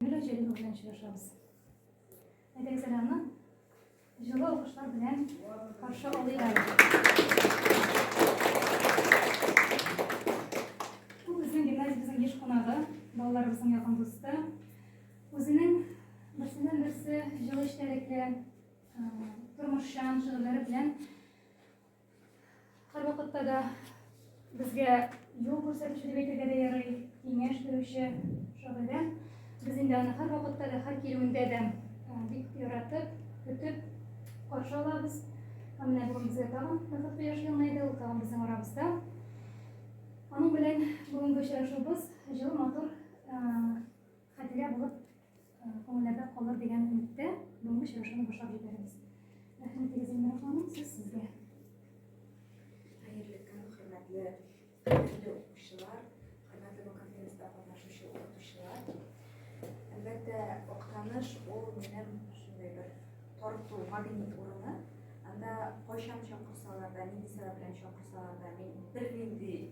Юля Җәлилова белән очрашабыз. Әдәксәләмне җылы алкышлар белән каршы алыйла. Бу безнең гимназиябезнең еш кунагы, балаларыбызның якын дусты. Үзенең берсеннән берсе җылы эчтәлекле, тормышчан шигырьләре белән Һәрвакытта да безгә юл күрсәтүче дип әйтергә дә ярый, киңәш бирүче шагыйрә. Без инде аны һәрвакытта да, һәр килүендә дә бик яратып, көтеп каршы алабыз. Һәм менә бүген безгә тагын Назат кояш елмайды, ул тагын безнең арабызда. Аның белән бүгенге очрашуыбыз җылы матур хәтирә булып күңелләрдә калыр дигән өметтә бүгенге очрашуны башлап җибәрәбез. Рәхмәт егез Эльмира ханым, сүз сезгә. Хәерле көн, хөрмәтле хөрмәтле укучылар, хөрмәтле бу конференцияда катнашучы укытучылар. Әлбәттә, Актаныш ул минем шундый бер тарту магнит урыны. Анда кайчан чакырсалар да, нинди сәбәп белән чакырсалар да, мин бернинди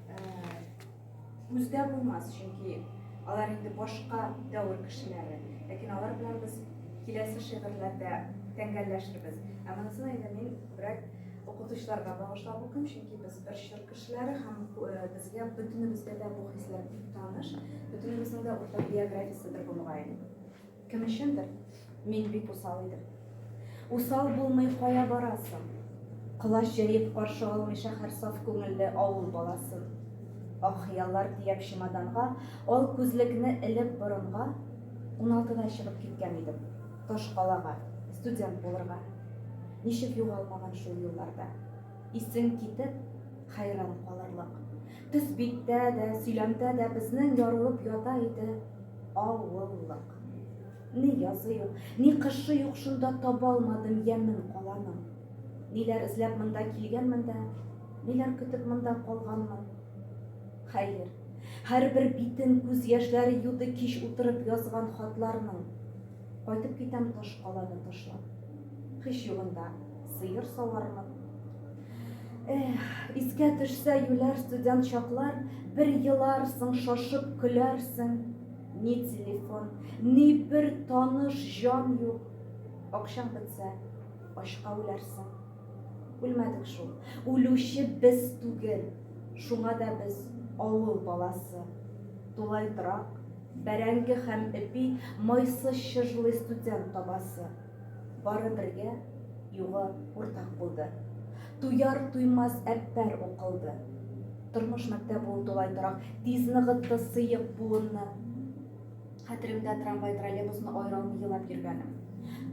Күздә булмас, чөнки алар инде башка дәвер кешеләре. Ләкин алар белән без киләсе шигырьләрдә тәңгәлләшербез. Ә монысын инде мин күбрәк укытучыларга багышлап укыйм, чөнки без бер чор кешеләре һәм безгә бөтенебезгә дә бу хисләр бик таныш. Бөтенебезнең дә уртак биографиясе бер булган. Кем өчендер мин бик усал идем. Усал булмый кая барасың? Колач җәеп каршы алмый шәһәр саф күңелле авыл баласын. Ак хыяллар тияп чемоданга, ал күзлекне элеп борынга, уналтыда чыгып киткән идем. Таш калага, студент булырга. Ничек югалмаган шул юлларда. Исең китеп, хәйран калырлык. Төс биттә дә, сөйләмдә дә безнең ярылып ята иде авыллык. Ни язы юк, ни кышы юк шунда табалмадым ямем каланың. Ниләр эзләп монда килгәнмен дә, ниләр көтеп монда калганмын. Хәер, һәрбер битен күз яшьләре юды кич утырып язган хатларның. Кайтып китәм таш каланы ташлап. Һич югында сыер савармын. Эх, искә төшсә юләр студент чаклар, бер еларсың, шашып көләрсең. Ни телефон, ни бер таныш җан юк. Акчаң бетсә, ачка үләрсең. Үлмәдек шул. Үлүче без түгел. Шуңа да без авыл баласы. Тулай драк, бәрәңге һәм эпи майсы чыжлый студент табасы. Бары бергә юга уртак булды. Туяр-туймас әппәр укылды. Тормыш мәктәбе ул тулай торак. Тиз ныгытты сыек буынны. Хәтеремдә трамвай-троллейбусны аералмый елап йөргәнем.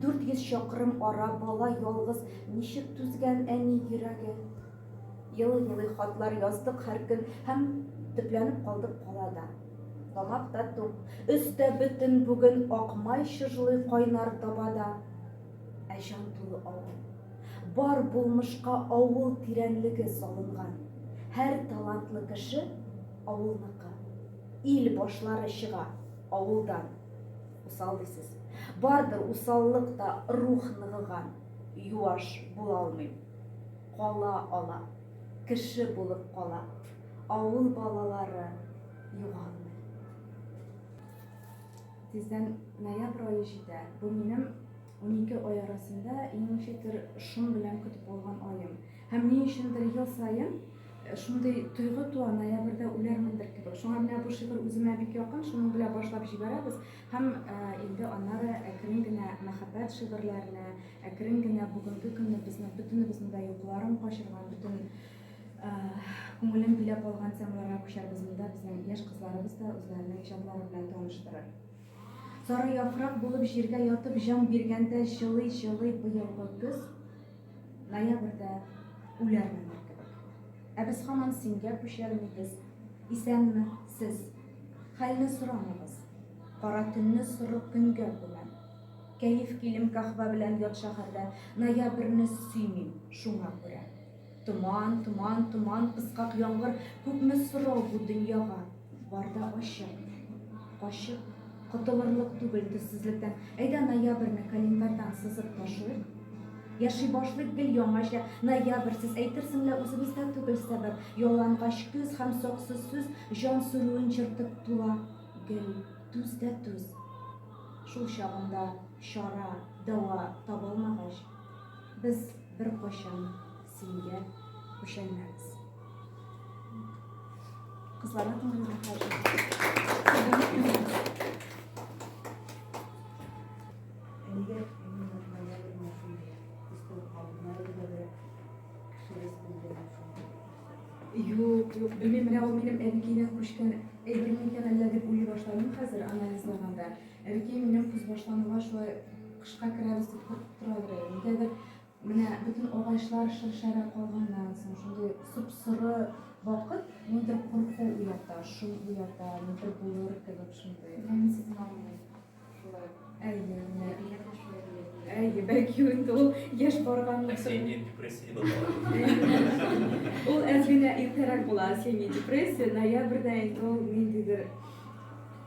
400 чакрым ара бала ялгыз ничек түзгән әни йөрәге. Елый-елый хатлар яздык һәр көн һәм төпләнеп калдык калада. Тамак та тук, өс тә бөтен бүген Ак май чыжлый кайнар табада. Ә җан тулы авыл. Бар булмышка авыл тирәнлеге салынган. Һәр талантлы кеше, авылныкы. Ил башлары чыга, авылдан. Усал дисез. Бардыр усаллык та рух ныгыган. Юаш булалмыйм. Кала ала. Кеше булып кала. Авыл балалары югалмый. Тиздән ноябрь ае җитә. Бу минем 12 ай арасында иң ничектер шом белән көтеп алган аем. Һәм ни өчендер ел саен э, шундый тойгы туа, ноябрьдә үләрмендер кебек. Шуңа менә бу шигырь үземә бик якын, шуның белән башлап җибәрәбез. Һәм э, инде аннары әкрен генә мәхәббәт шигырьләренә, әкрен генә бүгенге көнне безнең бөтенебезнең дә йокыларын качырган, бөтен Күңелен биләп алган темаларга күчәрбез, монда безнең яшь кызларыбыз да үзләренең иҗатлары белән таныштырыр. Сары яфрак булып җиргә ятып җан биргәндә җылый-җылый быелгы көз, ноябрьдә үләрмендер кебек. Ә без һаман сингә күчермибез. Исәнме, сез! Хәлне сорамыйбыз. Кара төнне соры көнгә күмәм. Кәеф килем каһвә белән ят шәһәрдә, ноябрьне сөймим, шуңа күрә. Томан, томан, томан, пыскак яңгыр, Күпме сорау бу дөньяга, бар да ачык, качып, Котылырлык түгел төссезлектән. Әйдә ноябрьне календарьдан сызып ташлыйк. Яши башлыйк гел яңача, ноябрь, сез әйтерсең лә үзебездә түгел сәбәп. Ялангач көз һәм саксыз сүз җан сүрүен чыртып тула. Гел түз дә түз. Шул чагында чара, дәва табылмагач. Без беркайчан сингә күчәнмәбез. Кызларга күңелле Юк, юк, белмим, менә ул минем әбекәйдән күчкән әйберме икән әллә дип уйлый башладым хәзер анализлаганда. Әнкәй минем көзбашлануга шулай кышка керәбез дип куркып торадыр әле. Нигәдер менә бөтен агачлар шыршайрак калганнан соң шундый сып-соры вакыт ниндер курку уята, шум уята, ниндер булыр кебек шундый. Менә сезнең авылда шулай. Әйе, менә. Әбиегез шулай дигән. Әйе, бәлки инде ул яшь барганлыктан. Осенняя депрессия дип атала. Ул әз генә иртәрәк була осенняя депрессия, ноябрьдә инде ул ниндидер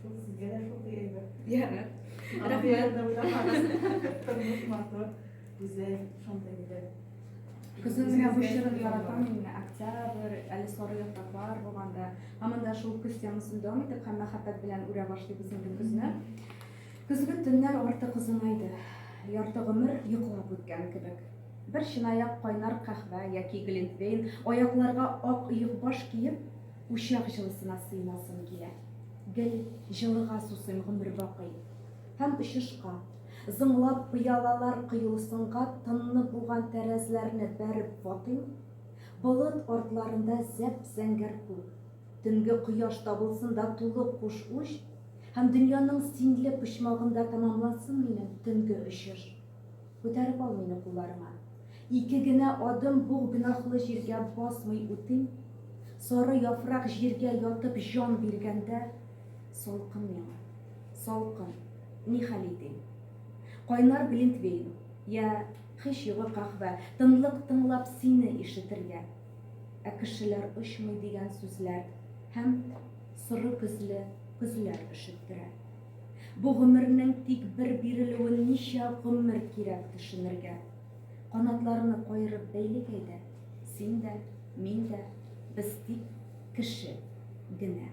Шул сезгә дә шундый әйбер. Ярар. Рәхмәт. Тормыш матур, гүзәл, шундый иде. Көзен генә бу чорын яратам мин, октябрь, әле сары яфраклар булганда. Һаман да шул көз темасын дәвам итеп һәм мәхәббәт белән үрә башлыйбыз инде көзне. Көзге төннәр артык озынайды. Ярты гомер йоклап үткән кебек. Бер чынаяк кайнар кахвә яки глинтвейн, аякларга ак йөкбаш киеп, Учак җылысына сыймасым килә. Гел җылыга сусыйм гомер бакый. Һәм очышка, зыңлап пыялалар коелысынга тынны буган тәрәзләрне бәреп ватыйм, болыт артларында зәп-зәңгәр күк, төнге кояш табылсын да тулы куш-уч, һәм дөньяның синле почмагында тәмамлансын минем төнге очыш. Күтәреп ал мине кулларыңа. Ике генә адым буг гөнаһлы җиргә басмый үтим, Сары яфрак җиргә ятып җан биргәндә, Салкын миңа, салкын, ни хәл итим? Кайнар глинтвейн, йә хис йогы каһвә, Тынлык тыңлап сине ишетергә. Ә кешеләр очмый дигән сүзләр һәм Соры көзле көзләр өшеттерә. Бу гомернең тик бер бирелүен ничә гомер кирәк төшенергә. Канатларны каерып бәйлик әйдә, син дә, мин дә, без тик кеше генә.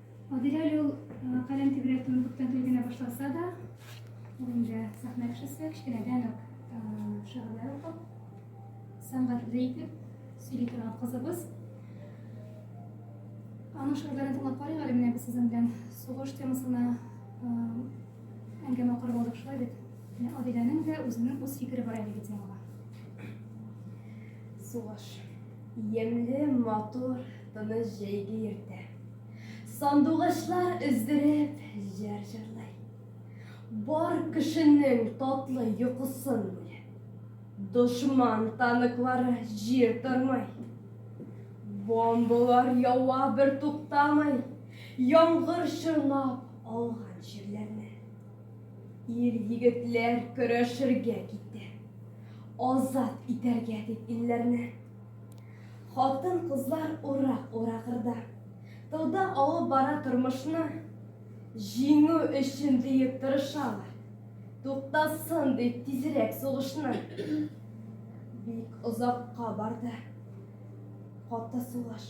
Адилә әле ул каләм тибрәтүен күптән түгел генә башласа да, ул инде сәхнә кешесе, кечкенәдән үк шигырьләр укып, сәнгатьле итеп сөйли торган кызыбыз. Аның шигырьләрен тыңлап карыйк әле менә без сезнең белән сугыш темасына әңгәмә корып алдык шулай бит. Менә Адиләнең дә үзенең үз фикере бар әлеге темага. Сугыш. Ямьле, матур, тыныч җәйге иртә. Сандугачлар өздереп җыр җырлый. Бар кешенең татлы йокысын бүлеп. Дошман танклары җир тормый. Бомбалар ява бер туктамый. Яңгыр чорнап алган җирләрне. Ир егетләр көрәшергә китте. Азат итәргә дип илләрне. Хатын кызлар ура ура кырда. Тылда алып бара тормышны. Җиңү өчен диеп тырышалар. Туктасын дип тизрәк сугышны. Бик озакка барды. Каты сугыш.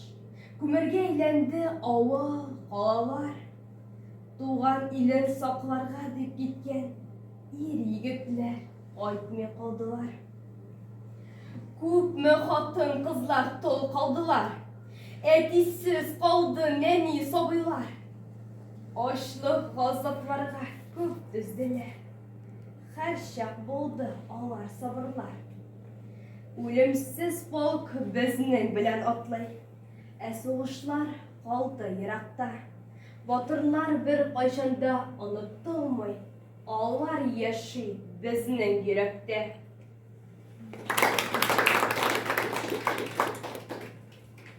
Күмергә әйләнде авыл, калалар. Туган илен сакларга дип киткән ир егетләр. Кайтмый калдылар. Күпме хатын кызлар тол калдылар. Әтисез калды нәни сабыйлар. Ачлык газапларга күп түзделәр. Хәрчак булды алар сабырлар. Үлемсез полк безнең белән атлый. Ә сугышлар калды еракта. Батырлар бер кайчанда оныттылмый. Алар яши безнең йөрәктә.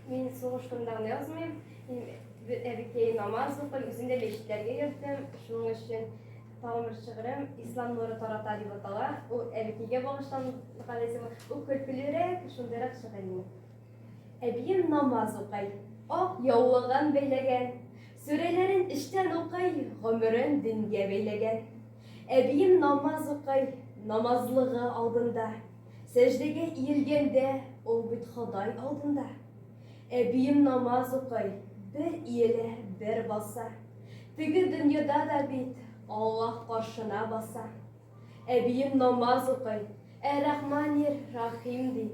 Мин сугыш турында гына язмыйм. Мин әбекәй намаз укый, үзем дә мәчетләргә йөрдем. Шуның өчен тагын бер шигырем Ислам нуры тарата дип атала. Ул әбекәйгә багышланган дип ул көлкелерәк, шундыйрак шигырь Әбием намаз укый. Ак яулыгын бәйләгән. Сүрәләрен эчтән укый, гомерен дингә бәйләгән. Әбием намаз укый, намазлыгы алдында. Сәҗдәгә иелгәндә, ул бит Ходай алдында. Әбием намаз укый, бер иелә, бер баса. Теге дөньяда да бит Аллаһ каршына баса. Әбием намаз укый, Әр-Рахманир-Рахим ди.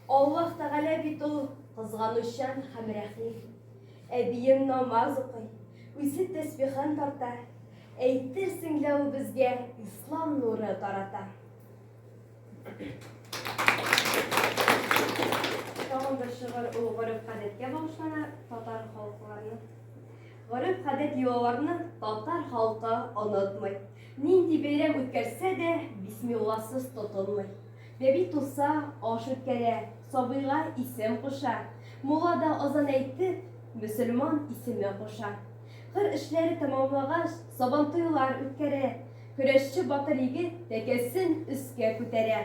Аллаһ Тәгалә бит ул кызганучан һәм рәхим. Әбием намаз укый, үзе тәсбихын тарта, әйтерсең лә ул безгә ислам нуры тарата. Тагын бер шигырь ул гореф-гадәткә багышлана, татар халыкларына. Гореф-гадәт йолаларны татар халкы онытмый. Нинди бәйрәм үткәрсә дә, бисмилласыз тотынмый. Бәби туса, аш үткәрә, сабыйга исем куша, мулла да азан әйтеп, мөселман исеме куша. Кыр эшләре тәмамлагач, сабантуйлар үткәрә, көрәшче батыр егет тәкәсен өскә күтәрә.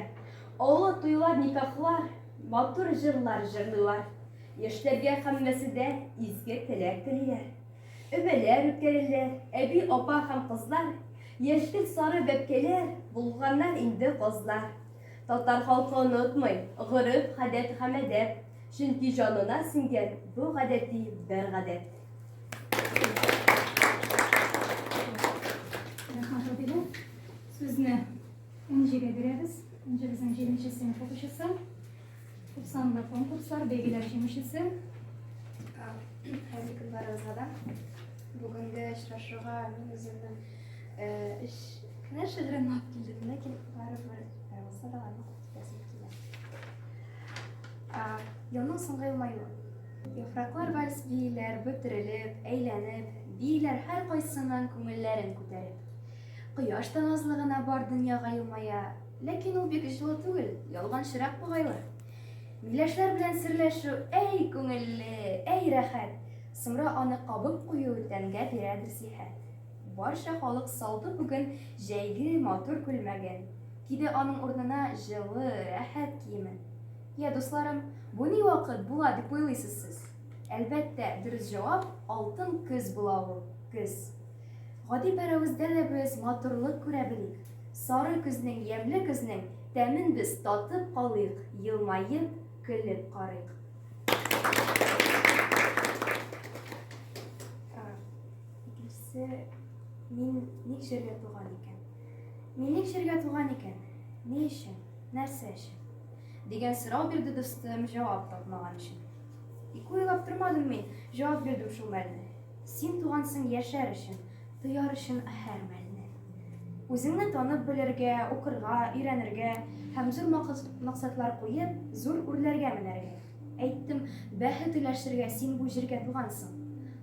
Олы туйлар, никахлар, матур җырлар җырлыйлар. Яшьләргә һәммәсе дә изге теләк телиләр. Өмәләр үткәрелер, әби, апа һәм кызлар, Яшьтер сары бәбкәләр, Булганнар инде казлар. Татар халкы онытмый, Гореф, гадәт һәм әдәп, Чөнки җанына сеңгән Бу гадәти бер гадәт. Рәхмәт, әбиләр. Сүзне Энҗегә бирәбез. Энҗе, безнең җиденче сыйныф укучысы. Күп санлы конкурслар, бәйгеләр җиңүчесе. Хәзер кызларыбызга да бүгенге очрашуга мин үземнең эш кенә шигырен алып килдем, ләкин барыбер булса да аны күрсәтәсем килә. Елның соңгы елмаюы. Яфраклар вальс бииләр, бөтерелеп, әйләнеп, бииләр һәркайсының күңелләрен күтәреп. Кояш та назлы гына бар дөньяга елмая, Ләкин ул бик җылы түгел, ялганчырак бугайлы. Миләшләр белән серләшү, әй күңелле, әй рәхәт. Соңра аны кабып кую тәнгә бирәдер сихәт. Барча халык салды бүген җәйге матур күлмәген, киде аның урынына җылы, рәхәт киемен. Я, дусларым, бу ни вакыт була дип уйлыйсыз сез? Әлбәттә, дөрес җавап, алтын көз була ул, көз. Гади бер әвездә дә без матурлык күрә белик, сары көзнең, ямьле көзнең тәмен без татып калыйк, елмаеп, көлеп карыйк. Икенчесе, мин ник җиргә туган икән? Мин ник җиргә туган икән? Ни өчен? Нәрсә өчен? Дигән сорау бирде дустым, җавап тапмаган өчен. Ике уйлап тормадым мин, җавап бирдем шул мәлне. Син тугансың яшәр өчен, тояр өчен һәр мәлне. Үзеңне танып белергә, укырга, өйрәнергә һәм зур максатлар куеп, зур үрләргә менәргә. Әйттем, бәхет өләшергә син бу җиргә тугансың.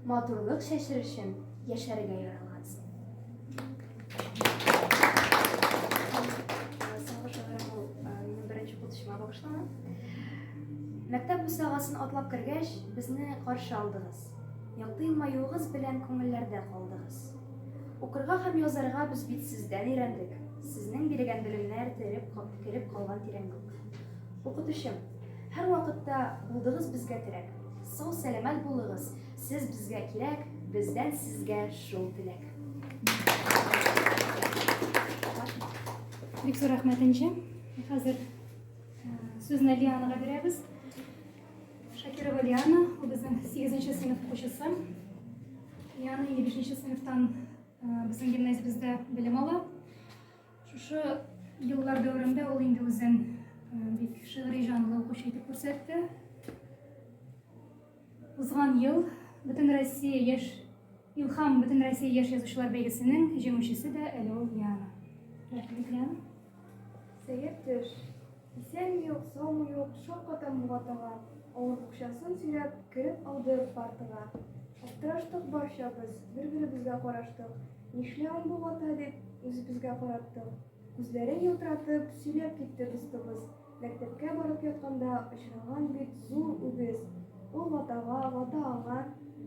Матурлык чәчер өчен яшәргә яралгансың. Мәктәп бусагасын атлап кергәч, безне каршы алдыгыз. Якты елмаюыгыз белән күңелләрдә калдыгыз. Укырга һәм язарга без бит сездән өйрәндек. Сезнең бирегән белемнәр тереп, кереп калган тирәнлек. Укытучым, һәрвакытта булдыгыз безгә терәк. Сау-сәламәт булыгыз, сез безгә кирәк, бездән сезгә шул теләк. Бик зур рәхмәт, Энҗе. Хәзер сүзне Лианага бирәбез. Шакирова Лиана, ул безнең 8 сыйныф укучысы. Лиана 5 сыйныфтан безнең гимназиябездә белем ала. Шушы еллар дәверендә ул инде үзен бик шигъри җанлы укучы итеп күрсәтте. Узган ел Бөтен Россия яшь Илхам Бөтен Россия яшь язучылар бәйгесенең җиңүчесе дә әле ул Лиана. Рәхмәт, Лиана. Сәер төш. Исән юк, сау юк, шакката Мулатага. Авыр букчасын сөйрәп, кереп алды партага. Аптыраштык барчабыз, бер-беребезгә караштык. Нишләвен бу вата дип, үзебезгә караттык. Күзләрен елтыратып, сөйләп китте дустыбыз, Мәктәпкә барып ятканда очраган бит зур үгез. Ул ватага, вата аңа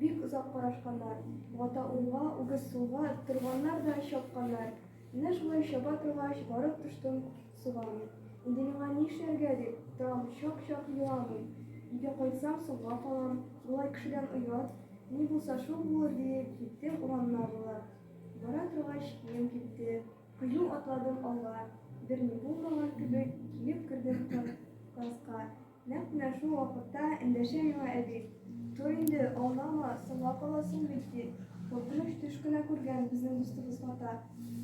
бик озак карашканнар. Вата уңга, үгез сулга торганнар да чапканнар. Менә шулай чаба торгач, барып төштем суга мин. Инде миңа ни эшләргә дип, тагын чак-чак юам мин. Өйгә кайтсам, соңга калам. Болай кешедән оят. Ни булса шул булыр диеп, киттем урамнар буйлап. Бара торгач, кием кипте. Кыю атладым алга. Берни булмаган кебек, килеп кердем класска. Нәкъ менә шул вакытта эндәшә миңа әби. Тор инде, аунама, соңга каласың бит, ди. Куркыныч төш кенә күргән безнең дустыбыз Гата.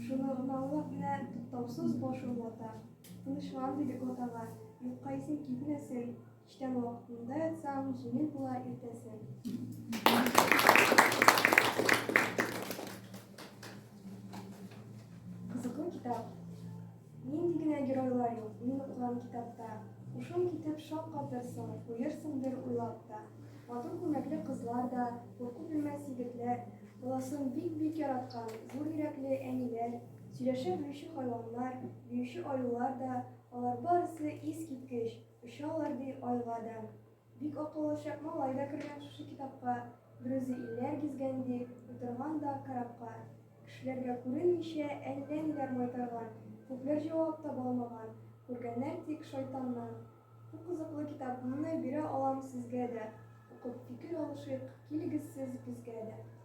Шуны гынаулап менә туктаусыз башым вата. Тынычлан, диде Гатага, юкка исең китмәсен. Кичтән вакытында ятсаң, җиңел була иртәсен. Нинди генә геройлар юк мин укыган китапта! Һушың китеп шаккатырсың, куерсыңдыр уйлап та. Матур күлмәкле кызлар да, курку белмәс егетләр, баласын бик-бик яраткан зур йөрәкле әниләр, сөйләшә белүче хайваннар, биюче аюлар да, алар барысы искиткеч, очалар ди айга да. Бик акыллы чак малай да кергән шушы китапка, берүзе илләр гизгән ди, утырган да корабка. Кешеләргә күренмичә әллә ниләр майтарган, күпләр җавап таба алмаган, күргәннәр тик шайтаннан. Бу кызыклы китапымны бирә алам сезгә дә, укып фикер алышыйк, килегез сез безгә дә.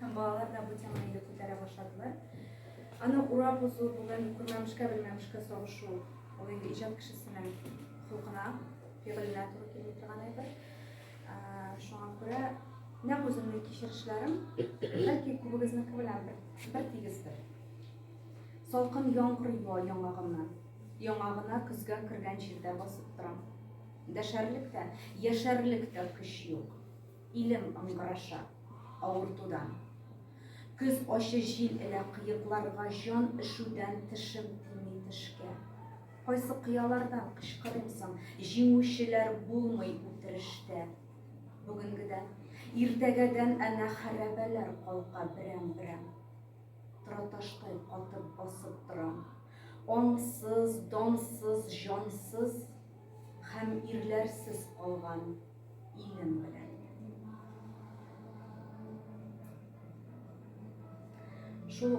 Һәм балалар да бу теманы инде күтәрә башладылар. Аны урап узу бүген күрмәмешкә белмәмешкә сагышу. Ул инде иҗат кешесенең хокукына, фигыленә туры килми торган әйбер. Шуңа күрә нәкъ үземнең кичерешләрем бәлки күбегезнеке белән бер тигездер. Салкын яңгыр юа яңагымнан. Яңагына көзгә кергән җирдә басып торам. Дәшәрлек тә, яшәрлек тә көч юк. Илем ыңгыраша авыртудан. Көз ачы җил элә кыекларга Җан өшүдән тешем тими тешкә. Кайсы кыялардан кычкырыйм соң, Җиңүчеләр булмый үтерештә. Бүгенгедән, иртәгәдән әнә Хәрабәләр калка берәм-берәм. Тораташтай катып басып торам. Аңсыз, дансыз, җансыз һәм ирләрсез калган. Илем белән. Шул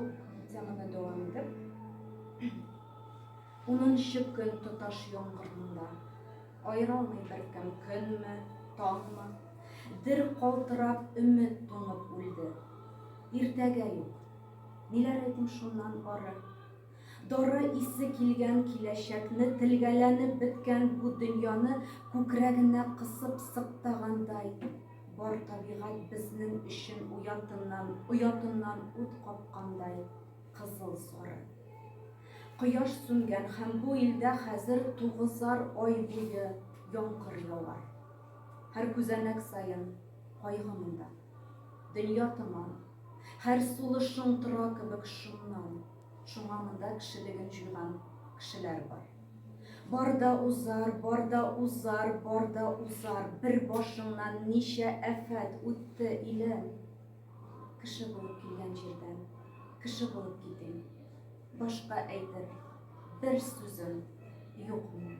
теманы дәвам итеп, унынчы көн тоташ яңгырында аералмый беркем көнме, таңмы, дер калтырап өмет туңып үлде. Иртәгә юк. Ниләр әйтим шуннан ары? Дары исе килгән киләчәкне, Телгәләнеп беткән бу дөньяны Күкрәгенә кысып сыктагандай, Бар табигать безнең өчен уятыннан, Оятыннан ут капкандай, кызыл-сары. Кояш сүнгән һәм бу илдә хәзер Тугызар ай буе яңгыр явар. Һәр күзәнәк саен кайгы монда. Дөнья томан, һәр сулышың тора кебек шомнан, Шуңа монда кешелеген җуйган кешеләр бар. Бар да узар, бар да узар, бар да узар, Бер башыңнан ничә афәт үтте, илем. Кеше булып килгән җирдән кеше булып китим, Башка әйтер бер сүзем юк минем.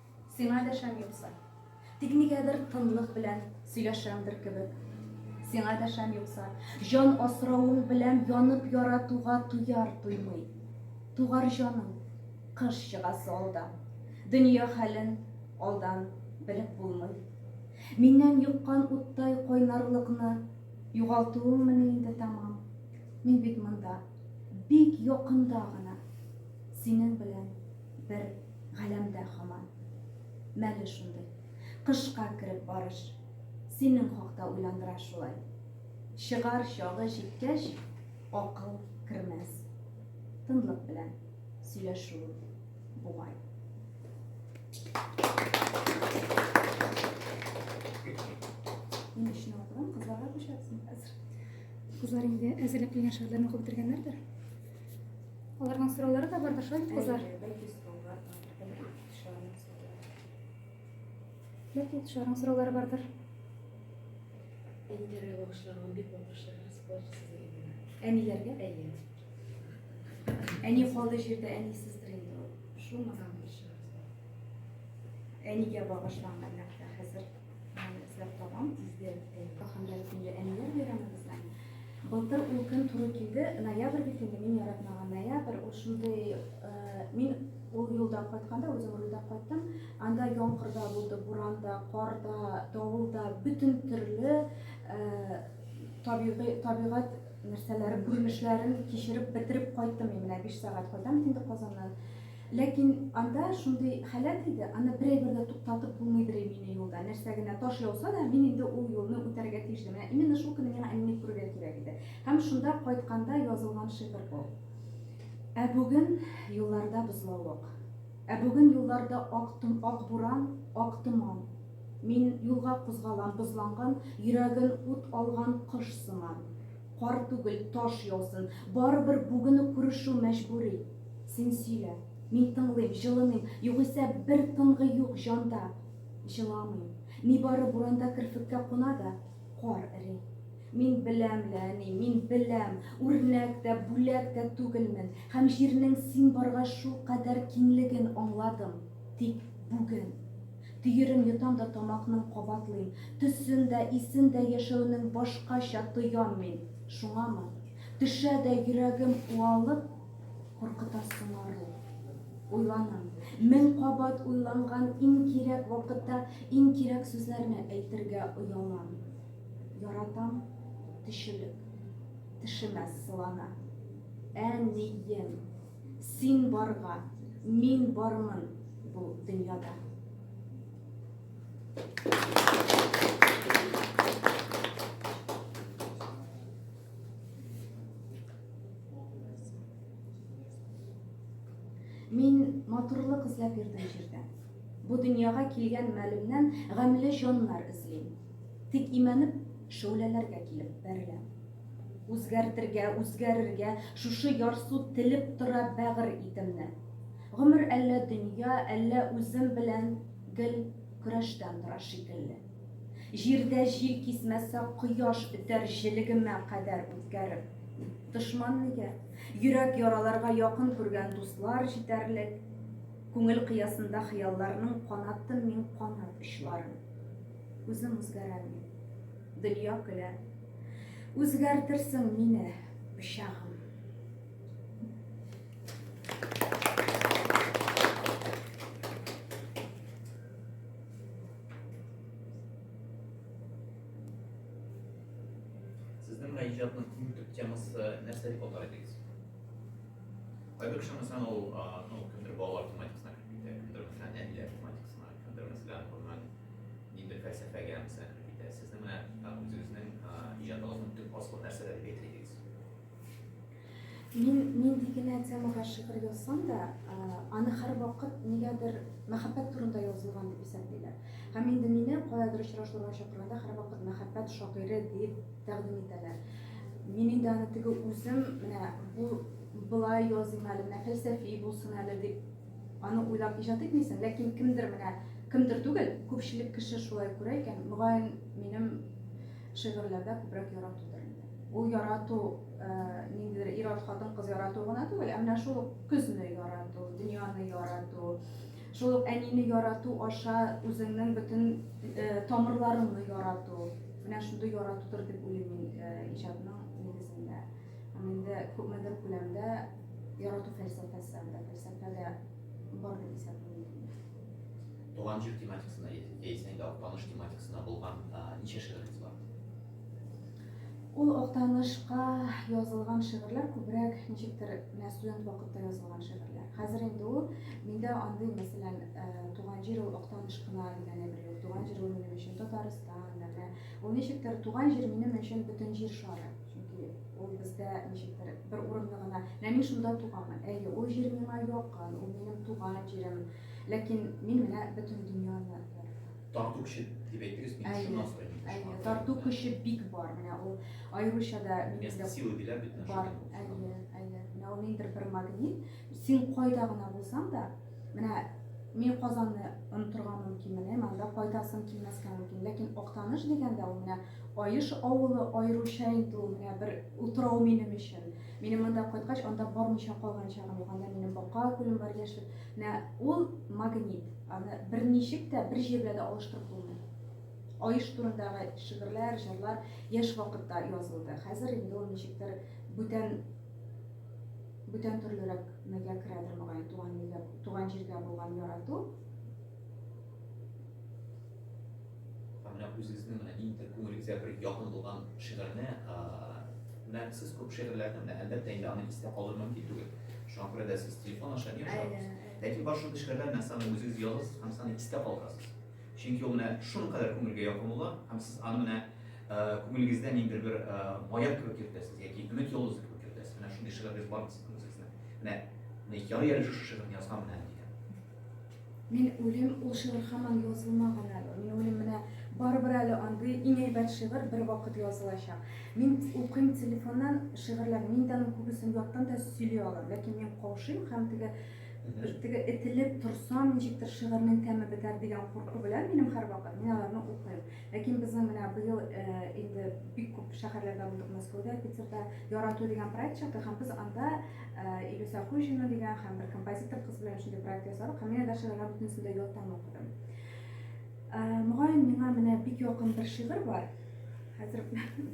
Сиңа дәшәм юкса. Тик нигәдер тынлык белән сөйләшәмдер кебек. Сиңа дәшәм юкса. Җан асравың белән янып яратуга туяр туймый. Тугар җаным, кыш чыгасы алда. Дөнья хәлен алдан белеп булмый. Миннән йоккан уттай кайнарлыкны югалтуыңмыни инде тәмам? Мин бит монда, бик якында гына, синең белән. бер галәмдә хаман. Мәле шундый. Кышка кереп барыш. Синең хакта уйландыра шулай. Чыгар чагы җиткәч, акыл кермәс. Тынлык белән сөйләшү бугай. Мин өчен алган кызларга күчәсең хәзер. Кызлар инде әзерләп килгән шигырьләрне укып бетергәннәрдер. Аларның сораулары да бардыр, шулай бит, кызлар? Бәлки сораулар Бәлки тышарның сораулары бардыр. Әниләргә багышланган бик багышлар, спорт сезгә. Әниләргә? Әйе. Әни калды җирдә, әнисездер инде ул. Шул мадам Әнигә багышланган нәкъ хәзер. Эзләп табам, тиздән Кахандар исемле әниләр бәйрәмебезне. Былтыр ул көн туры килде, ноябрь бит инде, мин яратмаган ноябрь, ул шундый, мин ул юлдан кайтканда, үзем рульдә кайттым, анда яңгырда булды, буранда, карда, давылда, бөтен төрле табигый, табигать нәрсәләре, күренешләрен кичереп, бетереп кайттым мин менә 5 сәгать кайдан инде Казаннан. Ләкин анда шундый халәт иде, аны берәйбер дә туктатып булмыйдыр ими ине юлда. Нәрсә генә таш яуса да, мин инде ул юлны үтәргә тиеш идем. Менә именно шул көнне миңа әнине күрергә кирәк иде. Һәм шунда кайтканда язылган шигырь бу. Ә бүген юлларда бозлавык. Ә бүген юлларда ак том, ак буран, ак томан. Мин юлга кузгалам бозланган, йөрәген ут алган кош сыман. Кар түгел, таш яусын, барыбер бүген үк күрешү мәҗбүри. Син сөйлә, мин тыңлыйм, җылыныйм, югыйсә бер тынгы юк җанда. Җыламыйм. Нибары буранда керфеккә куна да, кар эри. Мин беләм лә, әни, мин беләм, үрнәк тә, бүләк тә түгелмен һәм җирнең син баргач шулкадәр киңлеген аңладым. Тик бүген. Төерен йотам да тамакның кабатлыйм. Төсен дә, исен дә яшәүнең башкача тоям мин. Шуңамы? Төшә дә йөрәгем уалып. Куркытасың ару. Уйланам. Мең кабат уйланган иң кирәк вакытта иң кирәк сүзләрне әйтергә оялам. Яратам, төчелек. Тешемә сылана. Ә ни ем. Син барга, мин бармын бу дөньяда. Мин матурлык эзләп йөрдем җирдә. Бу дөньяга килгән мәлемнән гамьле җаннар эзлим. Тик имәнеп, шәүләләргә килеп бәреләм. Үзгәртергә, үзгәрергә, шушы ярсу телеп тора бәгырь итемне. Гомер әллә дөнья, әллә үзем белән гел көрәштән тора шикелле. Җирдә җил кисмәсә, кояш үтәр җелегемә кадәр үткәреп. Дошман нигә? Йөрәк яраларга якын күргән дуслар җитәрлек. Күңел кыясында хыялларның канатын мин канат очларын. Үзем үзгәрәм мин. Дөнья көлә. Үзгәртерсең мине, пычагым. Сезнең менә иҗатның иң төп темасы нәрсә дип атар идегез? Кайбер кеше мәсәлән ул ну, кемдер балалар тематикасына кереп китә, кемдер мәсәлән әниләр тематикасына, кемдер мәсәлән гомумән ниндидер фәлсәфәгә мәсәлән кереп китә. Сезнең менә үзегезнең иҗатыгызның төп асылы нәрсәдә дип әйтер идегез? Мин нинди генә темага шигырь язсам да, аны һәрвакыт нигәдер мәхәббәт турында язылган дип исәплиләр. Һәм инде мине каядыр очрашуларга чакырганда һәрвакыт мәхәббәт шагыйре дип тәкъдим итәләр. Мин инде аны теге үзем, менә бу былай языйм әле, менә фәлсәфи булсын әле дип аны уйлап иҗат итмисең, ләкин кемдер менә, кемдер түгел, күпчелек кеше шулай күрә икән, мөгаен, минем Шигырьләрдә күбрәк яратудыр инде. Ул ярату ниндидер ир-ат, хатын-кыз яратуы гына түгел, ә менә шул көзне ярату, дөньяны ярату, шул ук әнине ярату аша үзеңнең бөтен тамырларыңны ярату, менә шундый яратудыр дип уйлыйм мин иҗатның нигезендә. Һәм инде күпмедер күләмдә ярату фәлсәфәсе анда, фәлсәфә дә бар дип исәплим. Туган җир тематикасына яисә инде Актаныш тематикасына булган ничә шигырегез бар? Ул Актанышка язылган шигырьләр күбрәк ничектер менә студент вакытта язылган шигырьләр. Хәзер инде ул миндә андый, мәсәлән, туган җир ул Актаныш кына дигәне бер юк. Туган җир ул минем өчен Татарстан, менә ул ничектер туган җир минем өчен бөтен җир шары. Чөнки ул бездә ничектер бер урынны гына, менә мин шунда туганмын. Әйе, ул җир миңа якын, ул минем туган җирем. Ләкин мин менә бөтен дөньяны яратам. Тарту көче дип әйттегез, мин шуннан сорыйм. Әйе, тарту көче бик бар. Менә ул аеруча да Место силы диләр бит бар. Әйе, әйе. Менә ул ниндидер бер магнит. Син кайда гына булсаң да, менә мин Казанны онытырга мөмкин, менә монда кайтасым килмәскә мөмкин. Ләкин Актаныш дигәндә ул менә Аеш авылы аеруча инде ул менә бер утрау минем өчен. Минем монда кайткач, анда бармыйча калган чагым юк. Анда минем бака күлем бар, яшел Менә ул магнит. Аны берничек тә бер җиргә дә алыштырып булмый. Аеш турындагы шигырьләр, җырлар яшь вакытта язылды. Хәзер инде ул ничектер бүтән бүтән төрлерәк мәгә керәдер мөгаен туган илгә, туган җиргә булган ярату. Һәм менә үзегезнең менә иң күңелегезгә бер якын булган шигырьне, менә сез күп шигырьләрне менә әлбәттә инде аны истә калдыру мөмкин түгел. Шуңа күрә дә сез телефон аша ни ошатыгыз? Ләкин бар шундый шигырьләр менә саны үзегез язасыз һәм саны истә калдырасыз. Чөнки ул менә шуның кадәр күңелгә якын була һәм сез аны менә күңелегездә ниндидер бер маяк кебек йөртәсез яки өмет йолдызы кебек йөртәсез. Менә шундый шигырьләрегез бармы сезнең үзегезнең? Менә ярый әле шушы шигырьне язган менә дигән. Мин үлим, ул шигырь һаман язылмаган әле. Мин үлим менә барыбер әле андый иң әйбәт шигырь бер вакыт язылачак. Мин укыйм телефоннан шигырьләр, мин дә аның күбесен яттан да сөйли алам, ләкин мин каушыйм һәм теге теге этелеп торсам, ничектер шигырьнең тәме бетәр дигән курку белән минем һәрвакыт мин аларны укыйм. Ләкин безнең менә быел инде бик күп шәһәрләрдә булдык, Мәскәүдә, Питерда Ярату дигән проект чыкты һәм без анда Илюса Хуҗина дигән һәм бер композитор кыз белән шундый проект ясадык һәм менә даже алар бөтенесен дә яттан укыдым. Мөгаен, миңа менә бик якын бер шигырь бар. Хәзер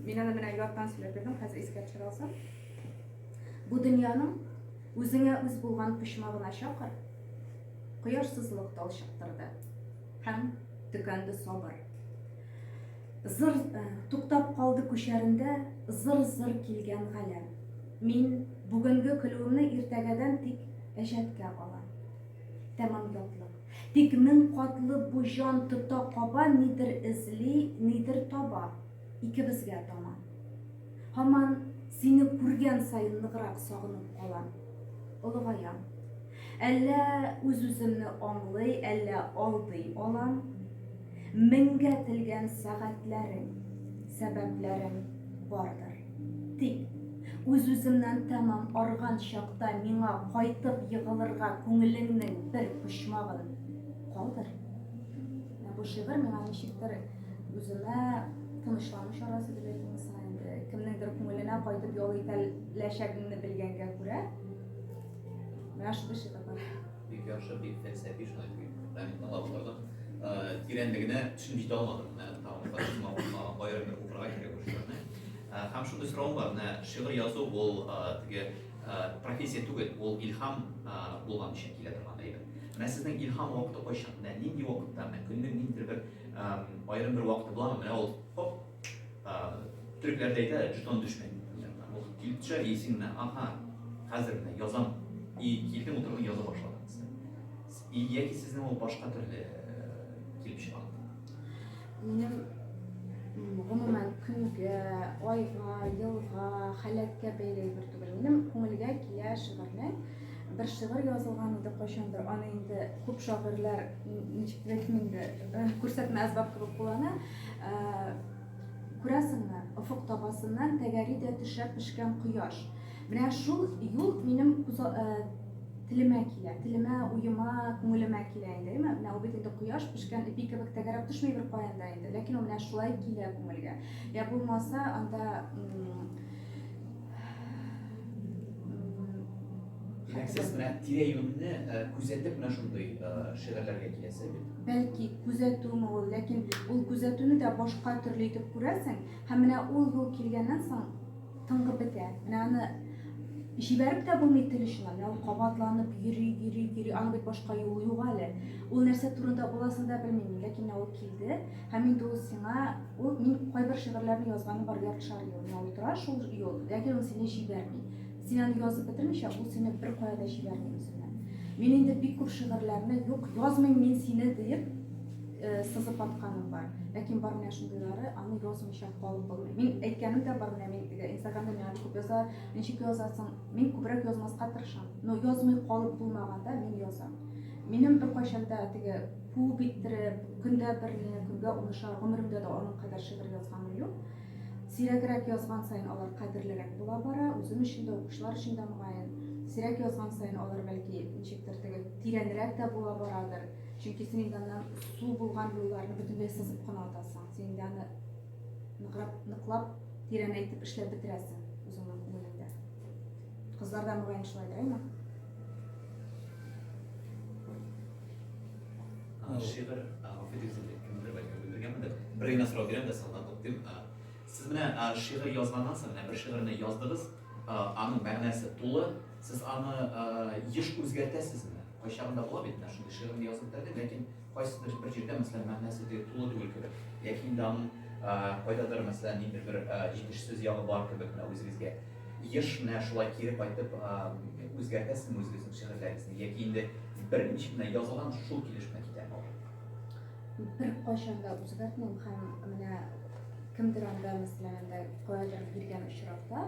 мин аны менә яттан сөйләп бирдем, хәзер искә төшерә алсам. Бу дөньяның үзеңә үз булган почмагына чакыр, кояшсызлык талчыктырды. Һәм төкәнде сабыр. Зыр э, туктап калды күчәрендә зыр-зыр килгән галәм. Мин бүгенге көлүемне иртәгәдән тик әҗәткә алам. Тәмам ятлык. Тик мең катлы бу җан тота каба, нидер эзли, нидер таба. Икебезгә таман. Һаман сине күргән саен ныграк сагынып калам. Олыгаям. Әллә үз-үземне аңлый, әллә алдый алам. Меңгә телгән сәгатьләрең, сәбәпләрең бардыр. Тик, үз-үземнән тәмам арган чакта миңа кайтып егылырга күңелеңнең бер почмагын калдыр. Ә бу шигырь миңа ничектер үземә тынычлану чарасы дип әйтим инде. Кемнеңдер күңеленә кайтып ял итәләчәгеңне белгәнгә күрә, Менә шундый шигырьләр. Бик яхшы, бик фәлсәфи, шулай дип рәхмәт тыңлап утырдым. Тирәнлегенә төшенеп җитә алмадым. Менә тагын аерым бер укырга кирәк ул шигырьне. Һәм шундый соравым бар. Менә шигырь язу ул теге профессия түгел, ул илһам булган өчен килә торган әйбер. Менә сезнең илһам вакыты кайчан? Менә нинди вакытта? Менә көннең ниндидер бер аерым бер вакыты буламы? Менә ул хоп, Төрекләр дә әйтә, жетон төшкән янына. Ул килеп төшә, иесе менә, аха, хәзер менә язам. И килдем, утырдым, яза башладым. И яки сезнең ул башка төрле килеп чыга? Минем гомумән көнгә, айга, елга, халәткә бәйле бер түгел. Минем күңелгә килә шигырьнең бер шигырь язылган иде кайчандыр. Аны инде күп шагыйрьләр ничек әйтим инде, күрсәтмә әсбап кебек куллана. Ә, күрәсеңме, офык табасыннан тәгәри дә төшә пешкән кояш. Менә шул юл минем күз, ә, телемә килә, телемә, уема, күңелемә килә инде, әйеме? Менә ул бит инде кояш пешкән эпи кебек тәгәрәп төшми беркаян да инде, ләкин ул менә шулай килә күңелгә. Йә булмаса, анда, м. Димәк, сез менә тирә-юньне күзәтеп менә шундый шигырьләргә киләсез бит. Бәлки күзәтүме ул, ләкин ул күзәтүне дә башка төрле итеп күрәсең, һәм менә ул юл килгәннән соң тыңгы бетә. Менә аны җибәреп тә булмый тел очына. Менә ул кабатланып йөри, йөри, йөри. Аның бит башка юлы юк әле. Ул нәрсә турында буласын да белмим, ләкин ул килде. Һәм инде ул сиңа, ул мин кайбер шигырьләрне язганы бар яртышар ел миңа утыра шул ел, ләкин ул сине җибәрми. Син аны язып бетермичә, ул сине бер кая да җибәрми үзенә. Мин инде бик күп шигырьләрне юк, язмыйм мин сине диеп э, сызып атканым бар. Ләкин бар менә шундыйлары, аны язмыйча калып булмый. Мин әйткәнем дә бар менә мин э, Инстаграмда миңа бик күп язалар, ничек язасың? Мин күбрәк язмаска тырышам. Но язмый калып булмаганда мин язам. Минем беркайчан да теге Куып иттереп, көндә берне, көнгә унышар, гомеремдә дә аның кадәр шигырь язганым юк. Сирәгрәк язган саен алар кадерлерәк була бара, үзем өчен дә, укучылар өчен дә мөгаен. Сирәк язган саен алар, бәлки, ничектер теге тирәнрәк тә була барадыр. Чөнки син инде аннан су булган юлларны бөтенләй сызып кына атасың. Син инде аны ныграк, ныклап, тирәнәйтеп эшләп бетерәсең үзеңнең күңелеңдә. Кызлар да мөгаен шулайдыр, әйме? Шигырь, гафу итегез, кемдер бәлки белдергәнмендер. Бер генә сорау бирәм дә соңыннан туктыйм. Сез менә шигырь язганнан соң, менә бер шигырьне яздыгыз, аның мәгънәсе тулы, сез аны еш үзгәртәсезме? Кайчагында була бит, менә шундый шигырьне язып бетердем, ләкин кайсыдыр бер җирдә, мәсәлән, мәгънәсе тулы түгел кебек. Яки инде аның кайдадыр, мәсәлән, ниндидер бер җитешсез ягы бар кебек, менә үзегезгә. Еш менә шулай кире кайтып үзгәртәсезме үзегезнең шигырьләрегезне яки инде беренче генә язылган шул килешмә китәме ул? Беркайчан да үзгәртмим һәм менә кемдер анда мәсәлән анда каядыр биргән очракта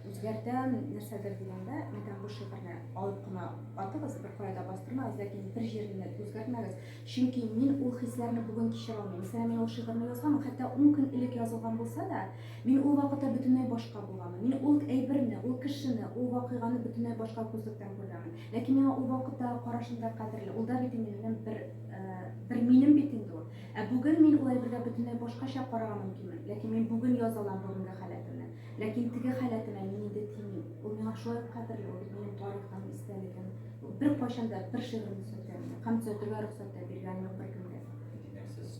үзгәртәм нәрсәдер дигәндә мәйтәм бу шигырьне алып кына атыгыз бер кайда бастырмагыз ләкин бер җиренә үзгәртмәгез чөнки мин ул хисләрне бүген кичерә алмыйм мәсәлән мин ул шигырьне язган хәтта ун көн элек язылган булса да Мин ул вакытта бөтенләй башка булганмын. Мин ул әйберне, ул кешене, ул вакыйганы бөтенләй башка күзлектән күргәнмен. Ләкин миңа ул вакыттагы карашым да кадерле. Ул да бит инде минем бер, бер минем бит инде ул. Ә бүген мин ул әйбергә бөтенләй башкача карарга мөмкинмен. Ләкин мин бүген яза алам бүгенге халәтемне. Ләкин теге халәтемә мин инде тимим. Ул миңа шулай ук кадерле, ул бит минем тарихым, истәлегем. Ул беркайчан да бер шигырем төзәтә мине. Һәм төзәтергә рөхсәт тә биргән юк беркемгә. Димәк, сез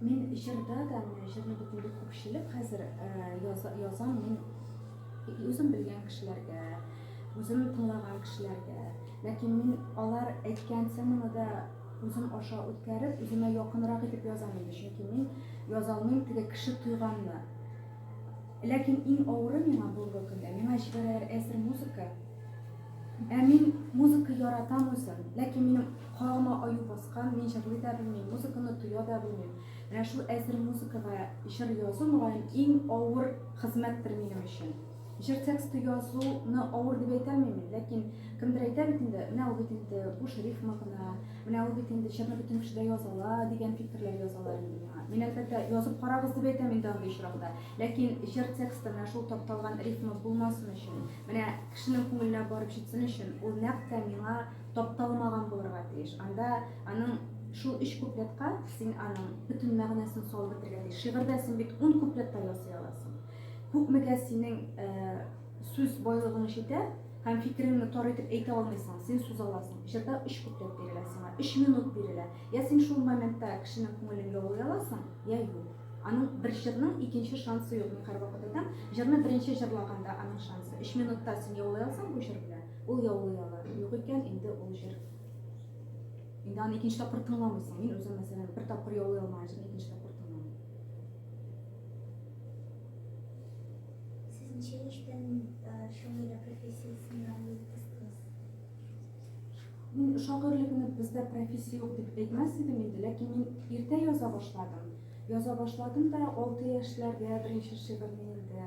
Мин җырда да, менә җырны бит күпчелек хәзер язам мин үзем белгән кешеләргә, үзем тыңлаган кешеләргә. Ләкин мин алар әйткән теманы да үзем аша үткәреп, үземә якынрак итеп язам инде, чөнки мин яза алмыйм теге кеше туйганны. Ләкин иң авыры миңа бүгенге көндә, миңа җибәрәләр әзер музыка, Ә мин музыка яратам үзем, ләкин минем колагыма аю баскан, мин җырлый да белмим, музыканы тоя да белмим. Менә шул әзер музыкага җыр язу мөгаен иң авыр хезмәттер минем өчен. Җыр тексты язуны авыр дип әйтәлмим, ләкин кемдер әйтә бит инде, менә ул бит инде буш рифма гына, менә ул бит инде җырны бөтен кеше дә яза ала дигән фикерләр язалар инде миңа. Мин әлбәттә язып карагыз дип әйтәм инде андый очракта, ләкин җыр тексты менә шул тапталган рифма булмасын өчен. Менә кешенең күңеленә барып җитсен өчен, ул нәкъ тә миңа тапталмаган булырга тиеш. Анда аның шул өч куплетка син аның бөтен мәгънәсен салып бетергә тиеш. Шигырьдә син бит ун куплет та ясый аласың. Күпмегә синең э, сүз байлыгың җитә һәм фикереңне тар итеп әйтә алмыйсың, син сүз аласың. Җырда өч куплет бирелә сиңа, өч минут бирелә. Я син шул моментта кешенең күңелен яулый аласың, я юк. Аның бер җырның икенче шансы юк, мин һәрвакытыта җырны беренче җырлаганда аның шансы. Өч минутта син яулый алсаң бу җыр белән, ул яулый ала. Юк икән, инде ул җыр. Инде аны икенче тапкыр тыңламыйсың. Мин үзем, мәсәлән, бер тапкыр яулый алмаган җырны икенче тапкыр тыңламыйм. Сез ничә яшьтән шагыйрә профессиясенә юл Мин шагыйрьлекне бездә профессия юк дип әйтмәс идем инде, ләкин мин иртә яза башладым. Яза башладым да 6 яшьләрдә беренче шигырьне инде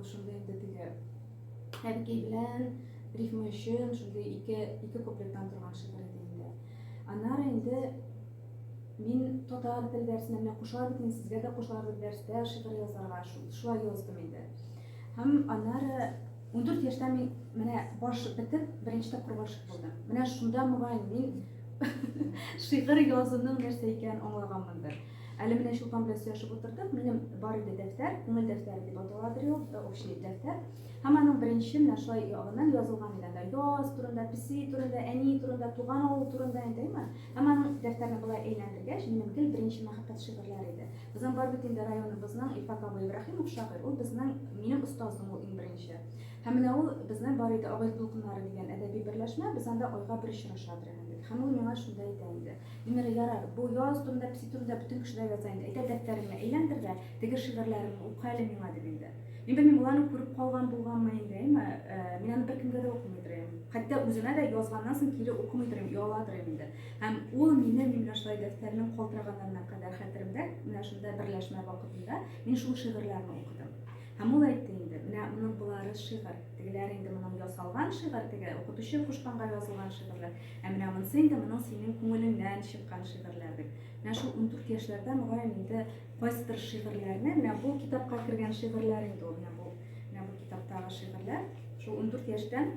шунда инде теге әбекәй белән рифма өчен шундый ике ике куплеттан торган шигырь иде инде. Аннары инде мин татар тел дәресенә менә кушалар бит инде сезгә дә кушалар бит дәрестә шигырь язарга шулай яздым инде. Һәм аннары 14 яшьтә мин менә баш бетеп, беренче тапкыр гашык булдым. Менә шунда мөгаен мин шигырь язуның нәрсә икәнен аңлаганмындыр. Әле менә Чулпан белән сөйләшеп утырдык. Минем бар иде дәфтәр, күңел дәфтәре дип аталадыр ул, э, общий дәфтәр. Һәм аның беренче менә шулай ягыннан язылган иде анда яз турында, песи турында, әни турында, туган авыл турында әйтәме. Һәм аның дәфтәрне болай әйләндергәч, минем гел беренче мәхәббәт шигырьләре иде. Безнең бар бит инде районыбызның Илфак абый Ибраһимов шагыйрь, ул безнең, минем остазым ул иң беренче. Һәм менә ул безнең бар иде Абай дулкыннары дигән әдәби берләшмә, без анда айга бер очрашадыр инде дик. Һәм ул миңа шунда әйтә инде, Венера, ярар, бу яз турында, песи турында бөтен кеше дә яза инде, әйдә дәфтәреңне әйләндер дә, теге шигырьләреңне ука әле миңа, дип инде. Мин белмим, ул аны күреп калган булганмы инде, әйме, мин аны беркемгә дә укымыйдыр идем. Хәтта үземә дә язганнан соң кире укымыйдыр идем, ояладыр идем инде. Һәм ул минем имляшлай дәфтәрнең калтыраганнарына кадәр хәтеремдә, менә шунда берләшмә вакытында мин шул шигырьләрне укыдым. Һәм ул әйтте инде, менә моның болары шигырь, тегеләр инде моның ясалган шигырь, теге укытучы кушканга язылган шигырьләр, ә менә монысы инде моның синең күңелеңнән чыккан шигырьләр дип. Менә шул ундүрт яшьләрдә мөгаен инде кайсыдыр шигырьләрне, менә бу китапка кергән шигырьләр инде ул, менә бу, менә бу китаптагы шигырьләр, шул ундүрт яшьтән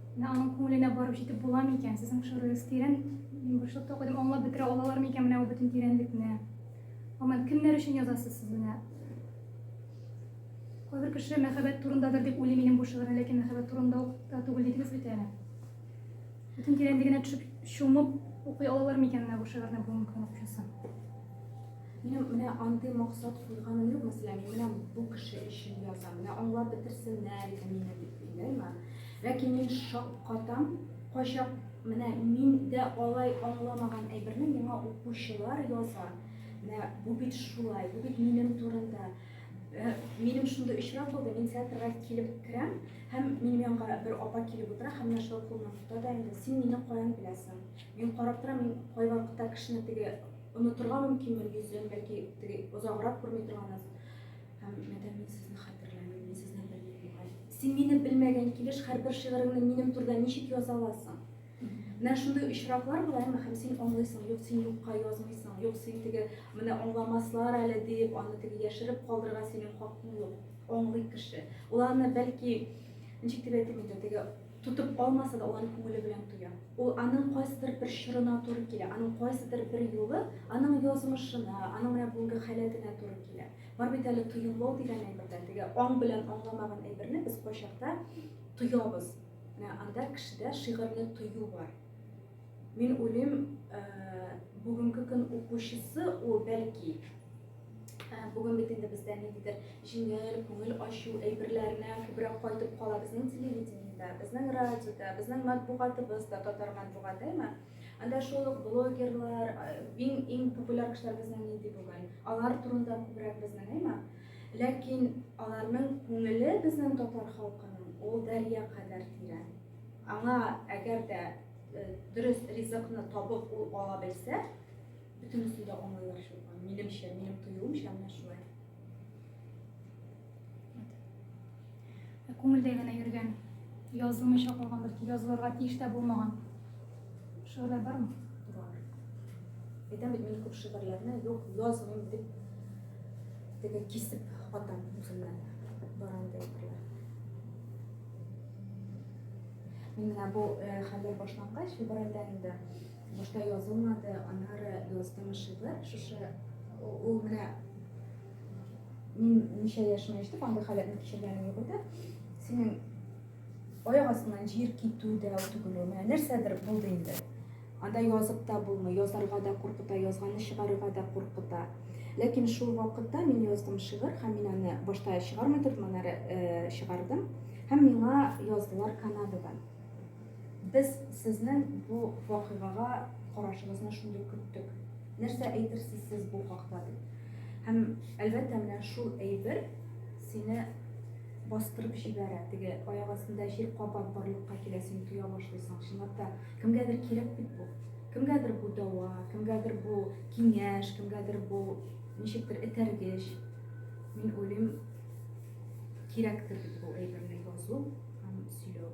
Менә аның күңеленә барып җитеп була микән? Сезнең пошырыгыз тирән. Мин бушлыкта укыдым, аңлап бетерә алалар микән менә бу бөтен тирәнлекне? Гомумән, кемнәр өчен язасыз сез менә? Кайбер кеше мәхәббәт турындадыр дип уйлый минем бу шигырьне, ләкин мәхәббәт турында ук та түгел дидегез бит әле. Бөтен тирәнлегенә төшеп, чумып укый алалар микән менә бу шигырьне бүгенге көн укучысы? Минем менә андый максат куйганым юк, мәсәлән, мин менә бу кеше өчен язам, менә аңлап бетерсеннәр иде мине дип уйлыймы? Ләкин мин шаккатам, кайчак менә мин дә алай аңламаган әйберне миңа укучылар яза. Менә бу бит шулай, бу бит минем турында. Э, минем шундый очрак булды, мин театрга килеп керәм, һәм минем янга бер апа килеп утыра, һәм менә шулай кулымнан тота да инде, син мине каян беләсең? Мин карап торам, мин кайвакытта кешене теге онытырга мөмкинмен йөзен, бәлки теге озаграк күрми торганнан Һәм, мәдәм мин сезне хәтерләмим, мин сезне белмим бугай. Син мине белмәгән килеш, һәрбер шигыреңне минем турыда ничек яза аласың? Менә шундый очраклар була, әмма һәм син аңлыйсың, юк, син юкка язмыйсың, юк, син теге, менә аңламаслар әле диеп, аны теге яшереп калдырырга синең хакың юк. Аңлый кеше. Ул аны бәлки, ничек дип әйтим инде, теге тотып калмаса да, ул аны күңеле белән тоя. Ул аның кайсыдыр бер чорына туры килә, аның кайсыдыр бер юлы аның язмышына, аның менә бүгенге халәтенә туры килә. Бар бит әле тоемлау дигән әйберләр, теге аң белән аңламаган әйберне без кайчакта тоябыз. Менә анда кешедә шигырьне тою бар. Мин уйлыйм, э, бүгенге көн укучысы ул бәлки э, бүген бит инде бездә ниндидер җиңел, күңел ачу әйберләренә күбрәк кайтып кала безнең телевидениедә, безнең радиода, безнең матбугатыбызда, татар матбугатымы? Э, Анда шул ук блогерлар, иң-иң популяр кешеләр безнең нинди бүген. Алар турында күбрәк без белмим, ләкин аларның күңеле безнең татар халкының ул дәрья кадәр тирән. Аңа әгәр дә дөрес ризыкны табып ул ала белсә, бөтенесен дә аңлыйлар шул. Минемчә, минем тоюымча, менә шулай. Ә күңелдә генә йөргән, язылмыйча калган, бәлки язылырга тиеш тә булмаган шигырьләр бармы? Бар. Әйтәм бит, мин күп шигырьләрне юк, язмыйм дип теге кисеп атам үземнән барандай әйберләр. Мин менә бу э, хәлләр башлангач, февральдә инде Башта язылмады, аннары яздым шигырь. Шушы ул менә мин ничә яшемә җитеп андый халәтне кичергәнем юк иде. Синең аяк астыннан җир китү дә түгел ул. Менә нәрсәдер булды инде. Анда язып та булмый, язарга да куркыта, язганны чыгарырга да куркыта. Ләкин шул вакытта мин яздым шигырь һәм мин аны башта чыгармый тордым, аннары э, чыгардым. Һәм миңа яздылар Канададан. Без сезнең бу вакыйгага карашыгызны шундый көттек. Нәрсә әйтерсез сез бу хакта? дип. Һәм, әлбәттә, менә шул әйбер сине бастырып җибәрә. Теге аяк астында җир кабат барлыкка килә, син тоя башлыйсың. Чынлап та, кемгәдер кирәк бит бу. Кемгәдер бу дәва, кемгәдер бу киңәш, кемгәдер бу ничектер этәргеч. Мин уйлыйм, кирәктер бит бу әйберне язу һәм сөйләү.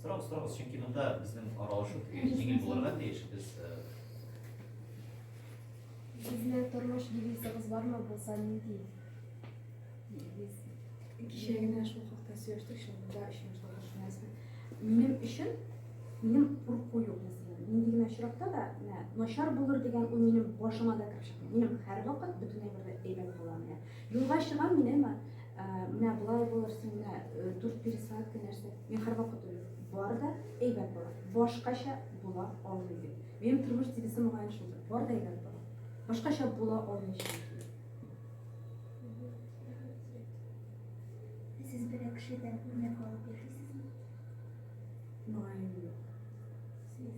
Сорагыз, сорагыз, чөнки монда безнең аралашу җиңел булырга тиеш. Без Сезне тормыш девизыгыз бармы булса нинди? Девиз. Кичә генә шул хакта сөйләштек, шунда өчен шулай Минем өчен минем курку юк мәсәлән. Нинди генә очракта да, менә начар булыр дигән уй минем башыма да кереп чыкмый. Минем һәрвакыт бөтенләй бер әйбәт була. Юлга чыгам мин, әмма менә болай булыр, син менә дүрт пересадка нәрсә. Мин һәрвакыт уйлыйм, бар да әйбәт була. Башкача була алмый бит. Минем тормыш девизы мөгаен шулдыр. Бар да әйбәт була. Башкача була алмый чөнки. Сез берәр кешедән үрнәк алып яшисезме? Мөгаен юк. Сез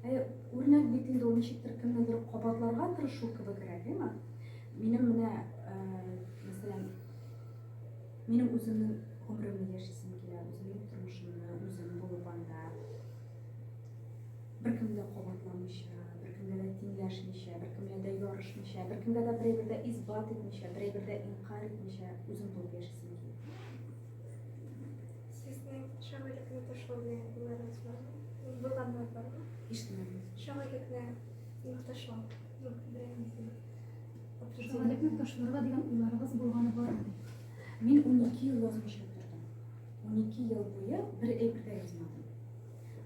Ә үрнәк бит инде ул ничектер кемнедер кабатларга тырышу кебегрәк, әйме? Минем менә, э, мәсәлән, минем үземнең гомеремне яшисем килә, үземнең тормышымны үзем булып анда беркемгә кабатламыйча, беркемгә дә тиңләшмичә, беркемгә дә ярышмыйча, беркемгә дә берәйбер дә исбат итмичә, берәйбер дә инкар итмичә үзем булып яшисем килә. ташларга дигән уйларыгыз булганы бармы? Мин 12 ел язмышып тордым. 12 ел буе бер әйбер дә язмадым.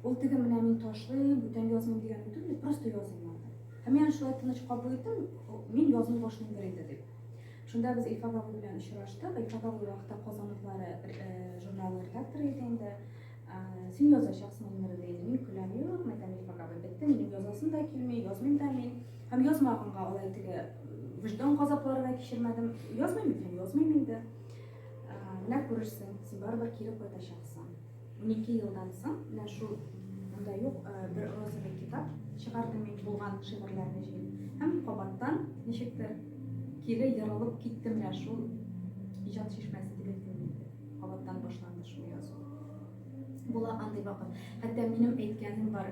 Ул теге менә мин ташлыйм, бүтән язмыйм дигән түгел, просто язмадым. Һәм мин шулай тыныч кабул иттем, мин язмый башлыйм бер инде дип. Шунда без Илфак абый белән очраштык. Илфак абый вакытта Казан утлары журналының редакторы иде инде. Син язачаксың гомере ди. Мин көләм, юк, мәйтәм Илфак абый, бетте, минем язасым да килми, язмыйм да мин. Һәм язмаганга алай теге вөҗдан газаплары да кичермәдем. Язмыйм икән, язмыйм инде. Менә күрерсең, син барыбер кире кайтачаксың. 12 елдан соң менә шул монда юк бер розовый китап чыгарды мин булган шигырьләрне җыеп һәм кабаттан ничектер кире ярылып китте менә шул иҗат чишмәсе дип әйтәм инде кабаттан башланды шул язу була андый вакыт хәтта минем әйткәнем бар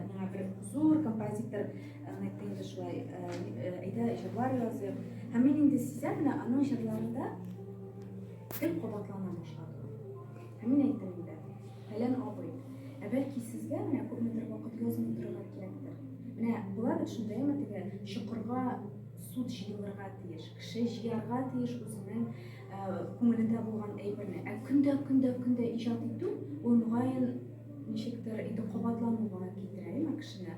миңа бер зур композитор әйтте инде шулай әйдә җырлар языйк һәм мин инде сизәм менә аның җырларында гел кабатлана башлады Ә мин әйттем инде, Фәлән абый, ә бәлки сезгә менә күпмедер вакыт язмый торырга кирәктер? Менә була бит шундый, әйеме, теге чокырга сут җыелырга тиеш, кеше җыярга тиеш үзенең күңелендә булган әйберне. Ә көндә-көндә-көндә иҗат итү, ул, мөгаен, ничектер инде кабатлануга китерә, әйеме, кешене.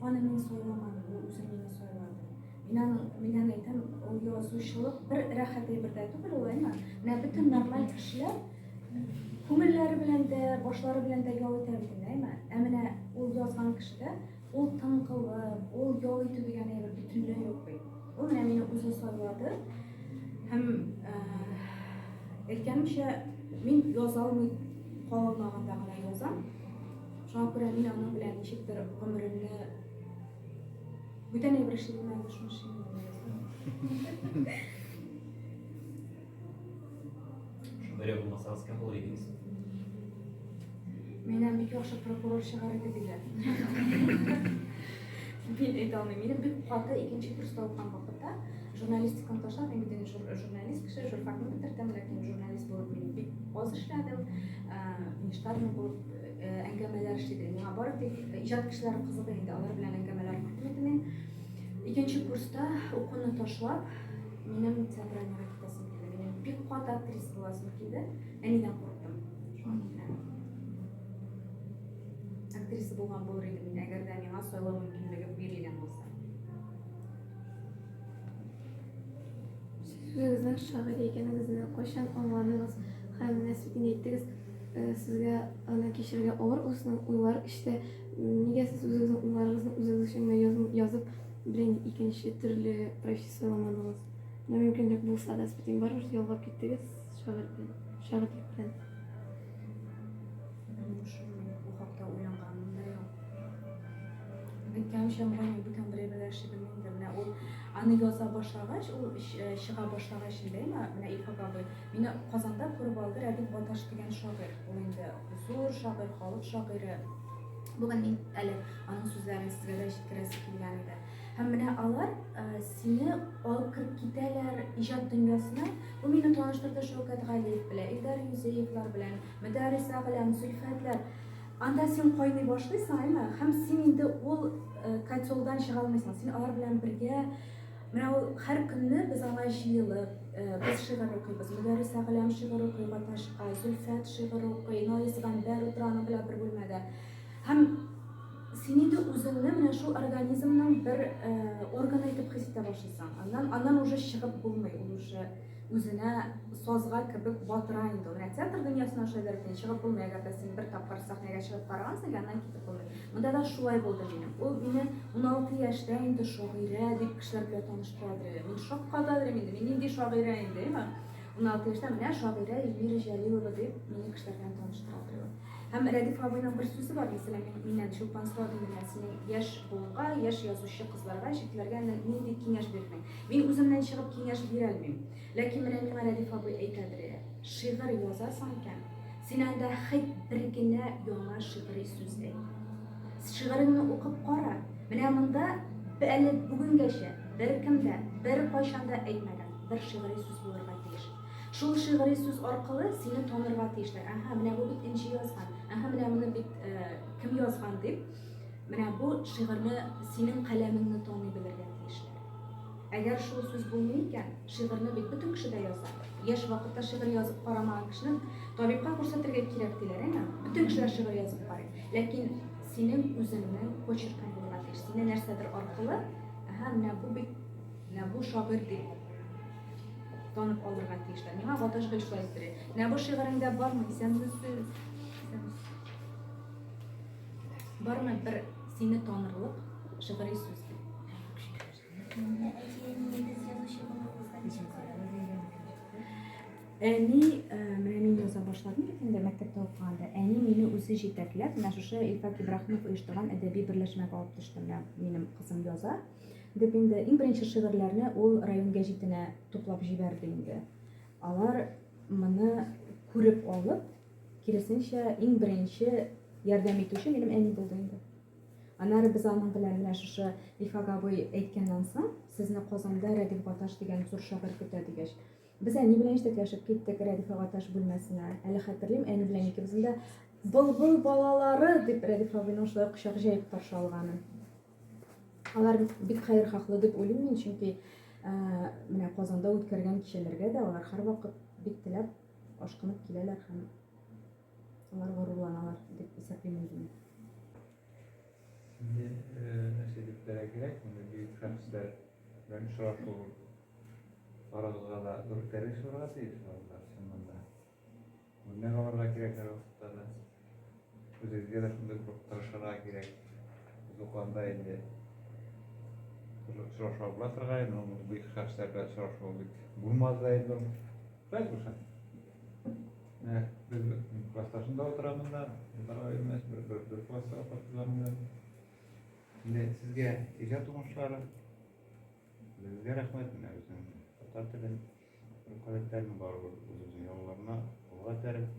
Аны мин сайламадым, ул үзе мине сайлады. Мин аны, мин аны әйтәм, ул язучылык бер рәхәт әйбер дә түгел ул, әйме? Менә бөтен нормаль кешеләр күңелләре белән дә, башлары белән дә ял итә бит, әйме? Ә менә ул язган кешедә ул тыңкылып, ул ял итү дигән әйбер бөтенләй юк бит. Ул менә мине үзе сайлады. Һәм әйткәнемчә, мин яза алмый калмаганда гына язам. Шуңа күрә мин аның белән ничектер гомеремне бүтән әйбер эшли белмәгән өчен шуны язам. Шагыйрә булмасагыз кем булыр идегез? Миннән бик яхшы прокурор чыгар иде диләр. Мин әйтә алмыйм. Минем бик каты икенче курста укыган вакытта журналистиканы ташлап, мин бит инде журналист кеше, журфакны бетердем, ләкин журналист булып мин бик аз эшләдем, внештатный булып әңгәмәләр эшлидек. Миңа бары тик иҗат кешеләре кызык инде, алар белән әңгәмәләр кертим иде мин. Икенче курста укуны ташлап, минем театральныйга китәсем килде. Минем бик каты актриса буласым килде. Әнидән курыктым. Актриса булган булыр идем мин, әгәр дә миңа сайлау мөмкинлеге бирелгән булса. Сүзегезнең шагыйрь икәнегезне кайчан аңладыгыз һәм менә сез инде әйттегез, Сезгә аны кичерергә авыр улсын уйлар эчтә. Нигә сез үзегезнең уйларыгызны үзегез өчен генә язып, язып белән икенче төрле профессия сайламадыгыз? Менә мөмкинлек булса да, сез барыбер ялгап киттегез шагыйрь белән, шагыйрьлек белән. Әйткәнчә, менә мин бүтән бер әйбер әшибем инде. Менә ул аны яза башлагач, ул чыга башлагач инде, менә Илфак абый. Мине Казанда күреп алды Рәдиф Гаташ дигән шагыйрь. Ул инде зур шагыйрь, халык шагыйре. Бүген мин әле аның сүзләрен сезгә дә җиткерәсе килгән иде. Һәм менә алар э, сине алып кереп китәләр иҗат дөньясына. Бу мине таныштырды Шәүкәт Галиев белән, Илдар Юзеевлар белән, Мөдәрис Агләм, Зөлфәтләр. Анда син кайный башлыйсың, әйме? Һәм син инде ул э, котелдан чыга алмыйсың. Син алар белән бергә Менә ул һәр көнне без аңа җыелып, без шигырь укыйбыз. Мөдәррис Әгъләм шигырь укый Гаташка, Зөлфәт шигырь укый, Наис Гамбәр утыра аның белән бер бүлмәдә. Һәм син инде үзеңне менә шул организмның бер органы итеп хис итә башлыйсың. Аннан, аннан уже чыгып булмый, ул уже Үзенә сазга кебек батыра инде ул. Менә театр дөньясына шулай да рөкмин, чыгып булмый, әгәр дә син бер тапкыр сәхнәгә чыгып карагансың, яныннан китеп булмый. Монда да шулай булды минем. Ул мине 16 яшьтә инде шагыйрә дип кешеләр белән таныштырадыр әле. Мин шаккатадыр инде, мин нинди шагыйрә инде, әйеме? 16 яшьтә менә шагыйрә Эльмира Җәлилова дип мине кешеләр белән таныштырадыр ул. Һәм Рәдиф абыйның бер сүзе бар, мәсәлән, мин, миннән Чулпан сорадым, менә синең яшь буынга, яшь язучы кызларга, җегетләргә нинди киңәш бирдең? Мин үземнән чыгып киңәш бирәлмим. Ләкин менә миңа Рәдиф абый әйтәдре, шигырь язасың икән, син анда хәйт бер генә яңа шигъри сүз әйт. Шигыреңне укып кара, менә монда әле бүгенгәчә беркем дә, беркайчан да әйтмәгән бер шигъри сүз булырга тиеш. Шул шигъри сүз аркылы сине танырга тиешләр. Аһа, менә бу бит Энҗе язган. Аһа, менә моны бит кем язган дип, менә бу шигырьне, синең каләмеңне таный белергә тиешләр. Әгәр шул сүз булмый икән, шигырьне бит бөтен кеше дә яза. Яшь вакытта шигырь язып карамаган кешенең табибка күрсәтергә кирәк диләр, әйеме? Бөтен кешеләр шигырь язып карый. Ләкин синең үзеңнең почеркың булырга тиеш. Сине нәрсәдер аркылы, әһә, менә бу бит, менә бу шагыйрь дип танып алырга тиешләр. Миңа Гаташ гел шулай сөйли. Менә бу шигыреңдә бармы? Исәнмесез. Исәнмесез. Бармы бер сине танырлык шигъри сүз? Әни, э, менә мин яза башладым бит инде мәктәптә укыганда. Әни мине үзе җитәкләп, менә шушы Илфак Ибраһимов оештырган әдәби берләшмәгә алып төште. Менә минем кызым яза. Дип инде иң беренче шигырьләрне ул район гәҗитенә туплап җибәрде инде. Алар моны күреп алып, Киресенчә, иң беренче ярдәм итүче минем әни булды инде. Аннары без аның белән менә шушы Ифак абый әйткәннән соң, сезне Казанда Рәдиф Гаташ дигән зур шагыйрь көтә дигәч, без әни белән җитәкләшеп киттек Рәдиф Гаташ бүлмәсенә. Әле хәтерлим, әни белән икебезнең дә былбыл балалары дип Рәдиф абыйның шулай кочак җәеп каршы алганы. Алар бик хәерхаһлы дип уйлыйм мин, чөнки менә Казанда үткәргән кичәләргә дә алар һәрвакыт бик теләп Ашкынып киләләр һәм алар горурланалар дип исәплим үземне. Сине нәрсә дип терәгрәк, мондый бөек шәхесләр белән очрашу барыгызга да зур тәрбия булырга тиеш, алар чыннан да. Үрнәк алырга кирәк һәр вакытта да. Үзегезгә дә шундый бер тырышырга кирәк. Без укыганда инде очрашуга була торган инде, ул бик хәстә белән очрашуы бик булмады да инде. Шулай булса. Менә без классташында утырамыз да, Дарайымыз бер бер бер класста укытылганда. Менә сезгә иҗат уңышлары. Безгә рәхмәт менә безнең татар телен, руколептерны барыбер үзебезнең ялларына алга тәреп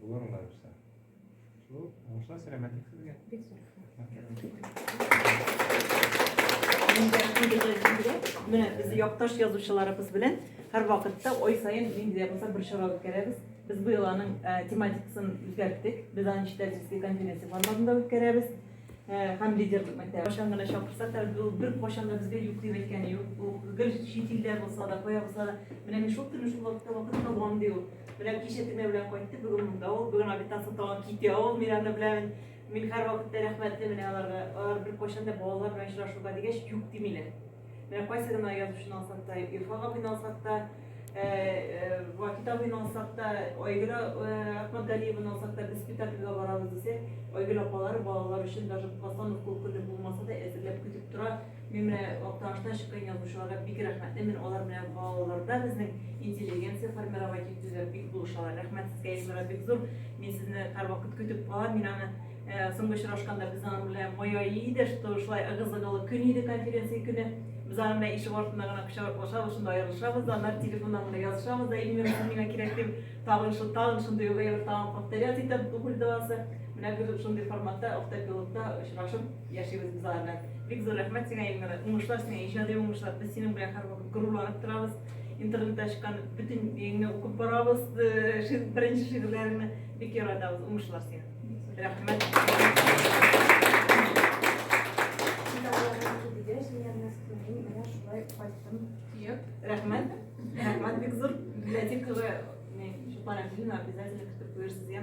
Булыр улар үсә. Шул, уңышлар, сәламәтлек сезгә. Бик зур Менә без якташ язучыларыбыз белән һәр вакытта ой саен нинди дә булса бер чара үткәрәбез. Без быел аның тематикасын үзгәрттек. Без аны ничек дизге конференция форматында үткәрәбез. Һәм лидерлык мәктәбе. Кайчан гына чакырсак та, ул бер кайчан да безгә юк дип әйткәне юк. Ул гел чит илдә булса да, кая булса да, менә мин шул көнне шул вакытта вакытта булам ди ул. Белән кичә төне белән кайтты, бүген монда ул, бүген обитан сатуга китә ул, мин аны беләмен. Мин һәр вакытта рәхмәтле менә аларга. Алар бер кайчан да балалар белән очрашуга дигәч юк димиләр. Менә кайсы гына язучыны алсак та, Ирфан абыйны алсак та, э, э, Вакит абыйны алсак та, Айгөл э, Ахмадгалиеваны алсак та, без спектакльгә барабыз дисә, Айгөл апалары балалар өчен даже постановка көне булмаса да әзерләп көтеп тора. Мин менә Актанышта чыккан язучыларга бик рәхмәтлемен, алар менә балаларда безнең интеллигенция формировать итүдә бик булышалар. Рәхмәт сезгә, Илмира, бик зур. Мин сезне һәрвакыт көтеп калам. Мин аны э, соңгы очрашканда без аның белән мая иде, что шулай ыгы-зыгылы көн иде конференция көне. Без аның белән ишек артында гына кочаклашабыз, шунда аерылышабыз да, аннары телефоннан гына язышабыз да, Илмира, син миңа кирәк дип, тагын шул тагын шундый ук әйбер тагын повторять итеп, духульдавасы. Менә бер шундый форматта автопилотта очрашып Яшибез без алар белән. Бик зур рәхмәт сиңа, Эльмира. Уңышлар сиңа, иҗади уңышлар. Без синең белән һәрвакыт горурланып торабыз. Интернетта чыккан бөтен еңне укып барабыз, э, беренче шигырьләреңне бик яратабыз. Уңышлар сиңа. Рәхмәт. Рәхмәт. Рәхмәт бик зур. Библиотекага, не, шулай обязательно көтеп куерсыз, я.